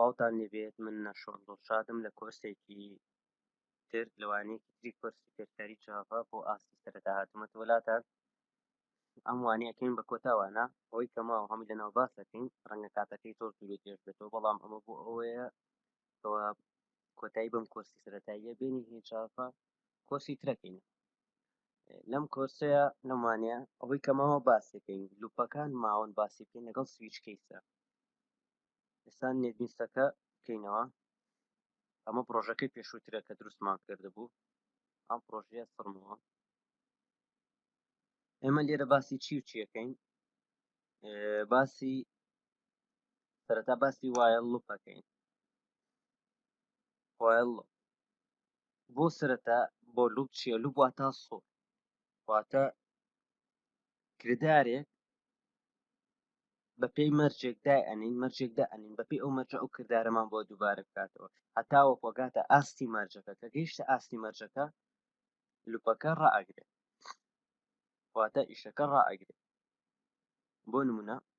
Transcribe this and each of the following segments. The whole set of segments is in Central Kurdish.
سڵاوتان لێبێت من نەشۆن دڵشادم لە کۆرسێکی تر لەوانەیەکی تری کۆرسی فێرکاری جاڤا بۆ ئاستی سەرەتا هاتوومەتە وەلاتان ئەم وانەیەکەین بە کۆتاوانە ئەوەی کەماوە هەمووی لەناو باس دەکەین ڕەنگە کاتەکەی زۆر دوور و درێژ بێتەوە بەڵام ئەمە بۆ ئەوەیە کەوا کۆتایی بەم کۆرسی سەتاییە بینی هێچافە کۆسی ترەکەین لەم کۆرسەیە لەمانە ئەوەی کەمەوە باسەکەین لوپەکان ماون باسی بکەین لەگەڵ سویچ کەیسە ئێستا نێتبیستەکە بکەینەوە ئەمە پرۆژەکەی پێشووترە کە دروستمان کردبوو ئەم پرۆژەیە سڕمەوە ئێمە لێرە باسی چی و چیەکەین باسی سەرەتا باسی وایە لوپەکەین وایە لوپ بۆ سرەتا بۆ لوب چیە لوب واتا سۆ واتە کردارێک بەپی مەرجێکدا ئەنین مەرجێکدا ئەنین بەپی ئەو مەرجە ئەو کردارەمان بۆ دووبارە بکاتەوە هەتاوە پۆگاتە ئاستی مەرجەکە کە گەیشتە ئاستی مەرجەکە لوپەکە ڕائگرێت واتە ئیشەکە ڕائگرێت بۆ نمونە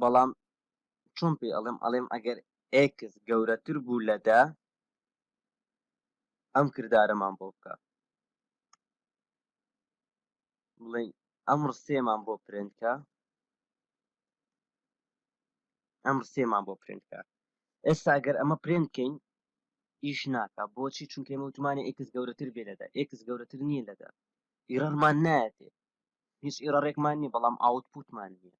بەڵام چۆن پێی ئەڵێم ئەڵێم ئەگەر ئێکس گەورەتر بوو لە دە ئەم کردارەمان بۆ بکە بڵێ ئەم ڕسێمان بۆ پرێنکە ئەم ڕسێمان بۆ پرێنکە ئێستا ئەگەر ئەمە پرێنکەین ئیش ناکە بۆچی چونکە مەوتمانی ئێکس گەورەتر بێ لەدا ئێکس گەورەتر نییە لەدا ئیڕمان نایەتێ هیچ ئیرەڕێکمان نییە بەڵام ئاوتپوتمان نییە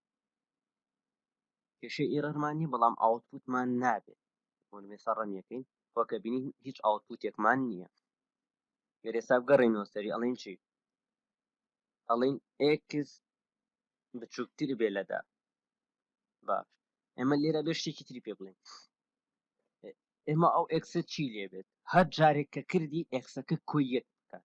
کێشەی ئیرەرمان نییە بەڵام ئاوتپوتمان نابێت بۆنمێسا ڕەنیەکەین وەکە بینین هیچ ئاوتپوتێکمان نییە گەر ئێستا بگەڕێنەوە سەری ئەڵین چی ئەڵین ئێکس بچووکتر بێ لەدا باش ئێمە لێرە بێ شتێکی تری پێ بڵێن ئێمە ئەو ئێکسە چی لێبێت هەر جارێک کە کردی ئێکسەکە کۆی یەک بکات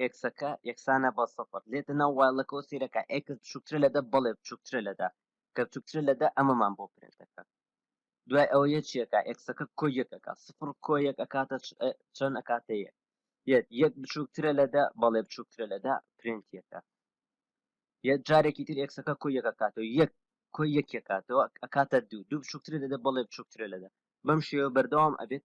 ئێکسەکە یەکسانە بە سەفر لێتە ناو وایڵەکەەوە سیرەکە ئێکس بچووکترە لە دە بەڵێ بچووکترە لە دە کە بچووکترە لە دە ئەمەمان بۆ پرنت دەکات دوای ئەوە یەکێکە ئێکسەکە کۆ یەکەکە سفر کۆ یەک ئەکاتە چەند ئەکاتە یەک یەک یەک بچووکترە لە دە بەڵێ بچووکترە لە دە پرنت یەکە یەک جارێکی تر ئێکسەکە کۆ یەکە کاتەوە یەک کۆ یەکێکاتەوە ئەکاتە دوو دوو بچووکترە لە دە بەڵێ بچووکترە لە دە بەم شێوە بەردەوام ئەبێت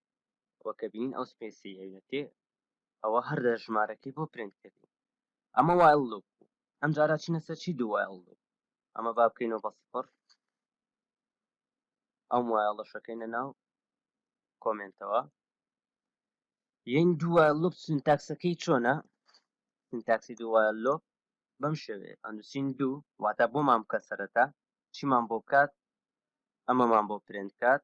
ئەوە کە بینین ئەو سپێسی ئەوێتێ ئەوە هەر لە ژمارەکەی بۆ پرینت کردین ئەمە وایل لوپ بوو ئەم جارە چینە سەر چی دوو وایل لوپ ئەمە با بکەینەوە بە سفر ئەم وایڵە شەکەینە ناو کۆمنتەوە یەن دووە لوپ سنتاکسەکەی چۆنە سنتاکسی دووە لۆپ بەم شێوێ ئەندوسین دوو واتە بۆمان بکە سەرەتا چیمان بۆ بکات ئەمەمان بۆ پرێنکات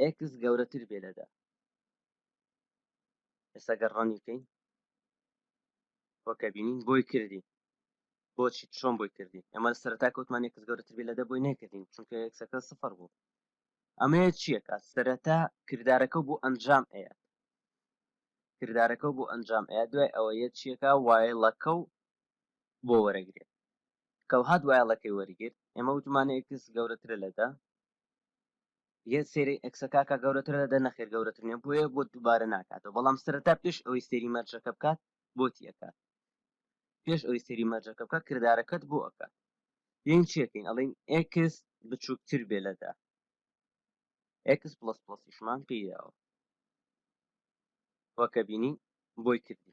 ئێکس گەورەتر بێ لە دە ئێستا گەر ڕەنی بکەین وەکە بینین بۆی کردی بۆچی چۆن بۆی کردی ئەمە سەرتا کەوتمان ئێکس گەورەتر بێ لە دە بۆی نەکردین چونکە ئێکسەکە سفر بوو ئەمەیە چیەکە سەرەتا کردارەکە بۆ ئەنجام ئەیە کردارەکە بۆ ئەنجام ئەیە دوای ئەوە یە چیەکە وایڵەکە و بۆ وەرەگرێت کەوهات وایڵەکەی وەرگرت ئێمە وتمانەیەکس گەورەترە لەدا یەت سێری ئەکسە کاکا گەورەترە دەدە نەخێر گەورەتر نیە بۆیە بۆ دووبارە ناکاتەوە بەڵام سەرەتا پێش ئەوەی سێری مەرجەکە بکات بۆتی ئەکات پێش ئەوەی سێری مەرجەکە بکات کردارەکەت بۆ ئەکات یین چێکین ئەڵین ئکس بچووکتر بێ لەدا ئکس پلس پلسیشمان پێیاوە وەکە بینی بۆی کردی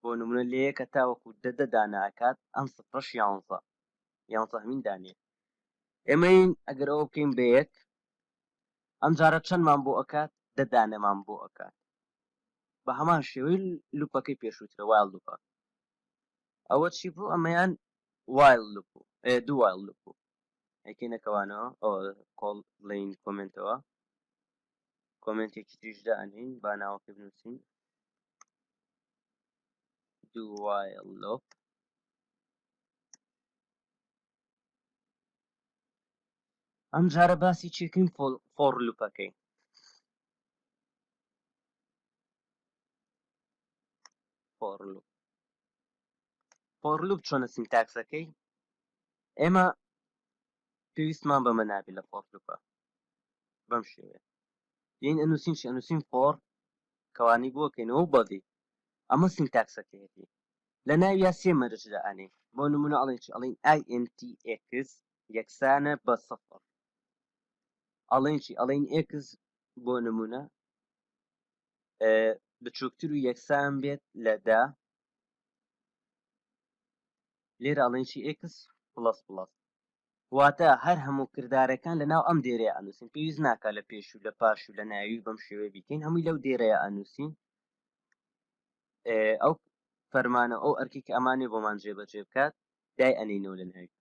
بۆ نمونە لە یەکە تاوەکو دە دە دانە ئەکات ئەم سفرەش یانزە یانزە هەمین دانەیە ئێمەین ئەگەر ئەوە بکەین بە یەک ئەم جارە چەندمان بۆ ئەکات دە دانەمان بۆ ئەکات بە هەمان شێوەی لوپەکەی پێشووترە وایڵ لوپە ئەوە چی بوو ئەمەیان وایڵ لوپ بوو دوو وایڵ لوپ بوو ئەکەینەکەوانەوە ئەوە کۆڵ بڵین کۆمنتەوە کۆمنتێکی تریش دانین با ناوەکە بنووسین دوایڵ لۆپ ئەم جارە باسی چێکین فۆڕ لوپەکەی فۆڕ لوپ فۆڕ لوپ چۆنە سینتاکسەکەی ئێمە پێویستمان بەمە نابێت لە فۆڕ لوپە بەم شێوەیە یین ئەنووسین چی ئەنووسین فۆڕ کەوانی بۆ کەینەوە بەدی ئەمە سینتاکسەکەیەتی لە ناویا سێ مەرجدا ئەنێ بۆ نمونە ئەڵێن چی ئەڵین INTX یەکسانە بە سفر ئەڵێن چی ئەڵین X بۆ نمونە بچووکتر و یەکسان بێت لە دا لێرە ئەڵێن چی X پلس پلس واتە هەر هەموو کردارەکان لە ناو ئەم دێرەیە ئەنووسین پێویست ناکا لە پێش و لە پاش و لە ناوی و بەم شێوەیە بیکەین هەمووی لەو دێرەیە ئەنووسین ئەو فەرمانە ئەو ئەرکی کە ئەمانێ بۆمان جێبەجێ بکات دای ئەنینەوە لە ناوی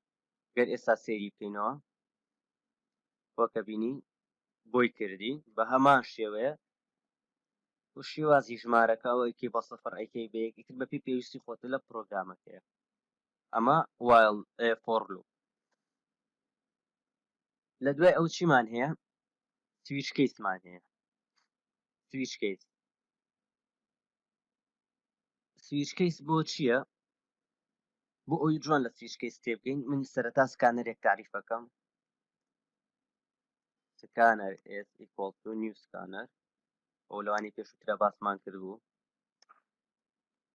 گەر ئێستا سێری بکەینەوە وەکە بینی بۆی کردی بە هەمان شێوەیە و شێوازی ژمارەکە ئەوەیکی بە سەفر ئەیکەی بەیەک ئیتر بەپی پێویستی خۆتە لە پرۆگرامەکەیە ئەمە وایڵ ئێ فۆڕ لوپ لە دوای ئەو چیمان هەیە سویچ کەیسمان هەیە سویچ کەیس سویچ کەیس بۆ چییە بۆ ئەوی جوان لە سویچ کەیس تێبگەین من سەرەتا سکانەرێک تعریفەکەم سکانەر ئێس ئیکۆڵ تو نیو سکانەر ئەو لەوانی پێشوترە باسمان کردبوو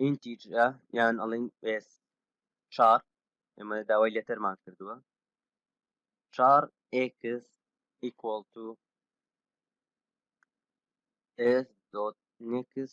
ئینتیجرە یان ئەڵین ئێس چار ئێمە داوای لێتەرمان کردووە چار ئێکس ئیکۆڵ تو ئێس دۆت نێکس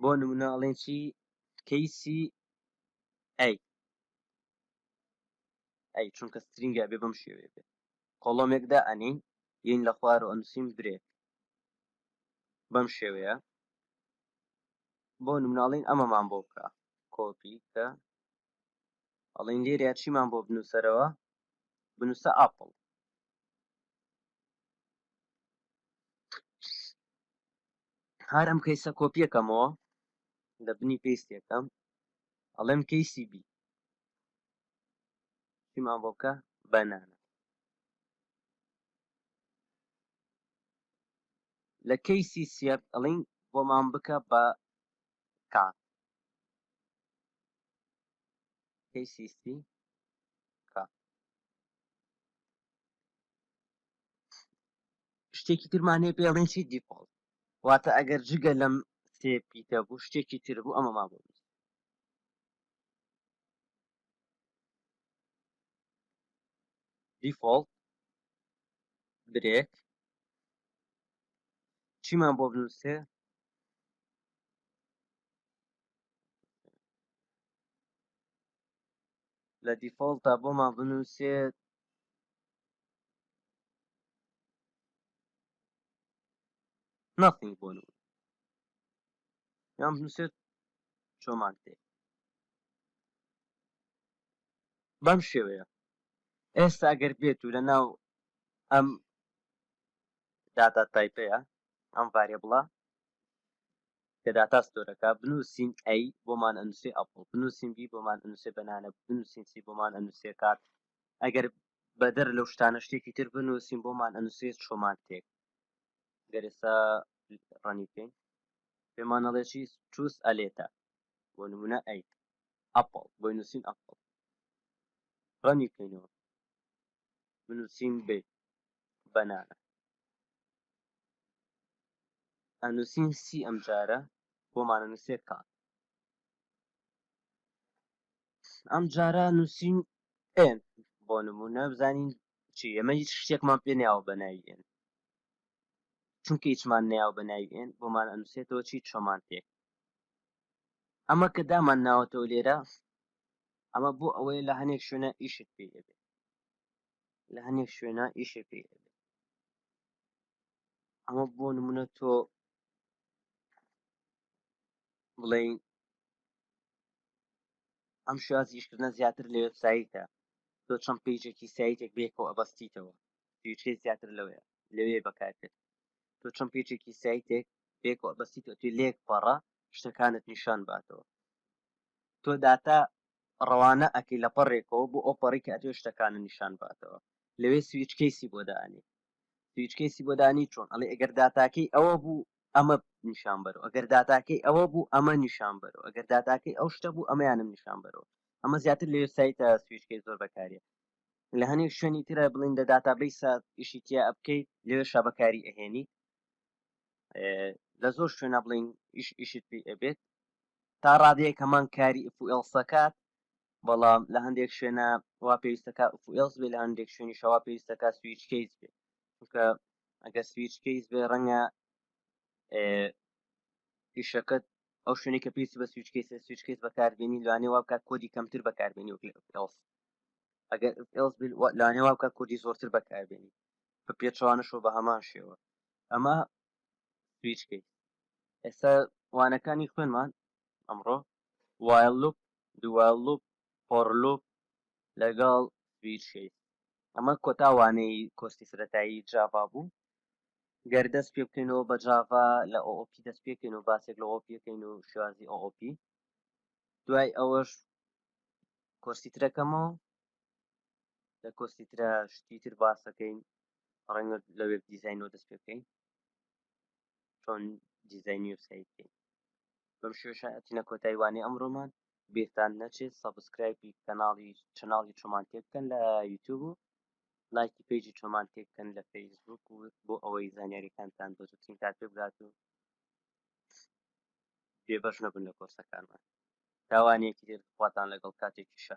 بۆ نمونە ئەڵێن چی کەیسی ئەی ئەی چونکە سترینگە بێ بەم شێوێ بێ کۆڵۆمێک دا ئەنین یین لە خوار و ئەنووسین برێک بەم شێوەیە بۆ نمناڵین ئەمەمان بۆ بکە کۆپی کە ئەڵین لێرە چیمان بۆ بنووسەرەوە بنووسە ئاپڵ هەر ئەم کەیسە کۆپی ئەکەمەوە لە بنی پێستی ئەکەم ئەڵێم کەیسی بی چیمان بۆ بکە بەنانە لە کەیسی سیەر ئەڵین بۆمان بکە بە کا کەیسی سی شتێکی ترمانێ پێڵێن چی دیفۆڵ واتە ئەگەر جگە لەم سێ پیتە بوو شتێکی تر بوو ئەمە ما بۆ دیفۆڵت برێک چیمان بۆ بنووسێ لە دیفۆڵتە بۆمان بنووسێت ناخی بۆ یان بنووسێت چۆمان تێ بەم شێوەیە ئێستا ئەگەر بێت و لە ناو ئەم داتا تایپەیە ئەم ڤارێ بڵە لە داتا ستۆرەکە، بنووسین A بۆمان ئەنووسێ ئەپڵ، بنووسین B بۆمان ئەنووسێ بەنانە، بنووسین C بۆمان ئەنووسێ کات، ئەگەر بەدەر لەو شتانە شتێکی تر بنووسین بۆمان ئەنووسێ چۆمان تێک. گەر ئێستا ڕەنی بکەین پێمان ئەڵێ چی چوس ئەلێتە بۆ نمونە ئەی ئەپڵ بۆی نووسین ئەپڵ ڕەنی بکەینەوە بنووسین بێ بەنانە ئەنووسین سی ئەم جارە بۆمانە نووسێت تا ئەم جارە نووسین ئێن بۆ نمونە بزانین چی ئەمە هیچ شتێکمان پێ نیاوە بە ناویێن چونکە هیچمان نیاو بە ناویێن بۆمان ئەنووسێتەوە چی چۆمان تێک ئەمە کە دامان ناوەتەوە لێرە ئەمە بۆ ئەوەیە لە هەنێک شوێنە ئیشت پێ دەبێت لە هەنێک شوێنە ئیشێ پێ ئەمە بۆ نمونە تۆ بڵین ئەم شازیشکردە زیاتر لە وبسایتە تۆ چەند پیجێکی سایتێک بێکەوە ئەبەستیتەوە پیچێ زیاتر لەوەیە لەوێ بەکارکرد تۆ چەند پیچێکی سایتێک بێکەوە ئەبەستیتەوە توی لێک پەڕە شتەکانت نیشان باتەوە تۆ داتا ڕەوانە ئەکەی لە پەڕێکەوە بۆ ئەو پەڕی کە ئەتوێ شتەکانە نیشان باتەوە لەوێ سویچ کەیسی بۆ دانی سویچ کەیسی بۆ دانی چۆن ئەڵێ ئەگەر داتاکەی ئەوە بوو ئەمە نیشان بەرەوە ئەگەر داتاکەی ئەوە بوو ئەمە نیشان بەرەوە ئەگەر داتاکەی ئەو شتە بوو ئەمەیانم نیشان بەرەوە ئەمە زیاتر لە وێبسایتە سویچکەی زۆر بەکاریە لە هەنێک شوێنی ترە بڵین لە داتابیسە ئیشی تیا بکەیت لەوێ شابەکاری ئەهێنی لە زۆر شوێنە بڵین ئیش ئیشت پێ ئەبێت تا ڕادەیە کەمان کاری ئفئلسەکات بەڵام لە هەندێک شوێنە وا پێویستەکە ئفئلس بێ لە هەندێک شوێنی شەوا پێویستەکە سویچ کەیس بێ چونکە ئەگە سویچ کەیس بێ ڕەنگە ئیشەکەت ئەو شوێنی کە پێویستی بە سویچ کەیس سویچ کەیس بەکاربیێنی لەوانێ وا بکات کۆدی کەمتر بەکاربیێنی ئەگەر لەوانێ وا بکات کۆدی زۆرتر بەکاربیێنی بە پێچەوانەش و بە هەمان شێوە ئەمە سویچ کەیس ئێستا وانەکانی خوێنمان ئەمڕۆ وایل لوپ دو وایل لوپ فۆر لوپ لەگەڵ سویچ کەیس ئەمە کۆتا وانەی کۆستی سەرەتایی جاڤا بوو گەر دەست پێ بکەینەوە بە جاڤا لە OOP دەست پێکەین و باسێک لە OOP یەکەین و شوازی OOP دوای ئەوەش کۆستی ترەکەمەوە لە کۆستی ترە شتی تر باسەکەین ڕەنگە لە وێب دیزینەوە دەست پێ بکەین چۆن دیزینی و سیکەین بەم شێشە ئەتینە کۆتای وانەی ئەمڕۆمان بێتان نەچێت سەبسکرایبی کەناڵی چناڵی چۆمان تێ بکەن لە یوتیوب و لایکی پیجی چۆمان تێ بکەن لە فەیسبوک و بۆ ئەوەی زانیاریەکانتان بۆ زوتین کار پێ بگات و بێبەش نەبن لە کۆرسەکانمان تاوانێکی تر خواتان لەگەڵ کاتێکیشە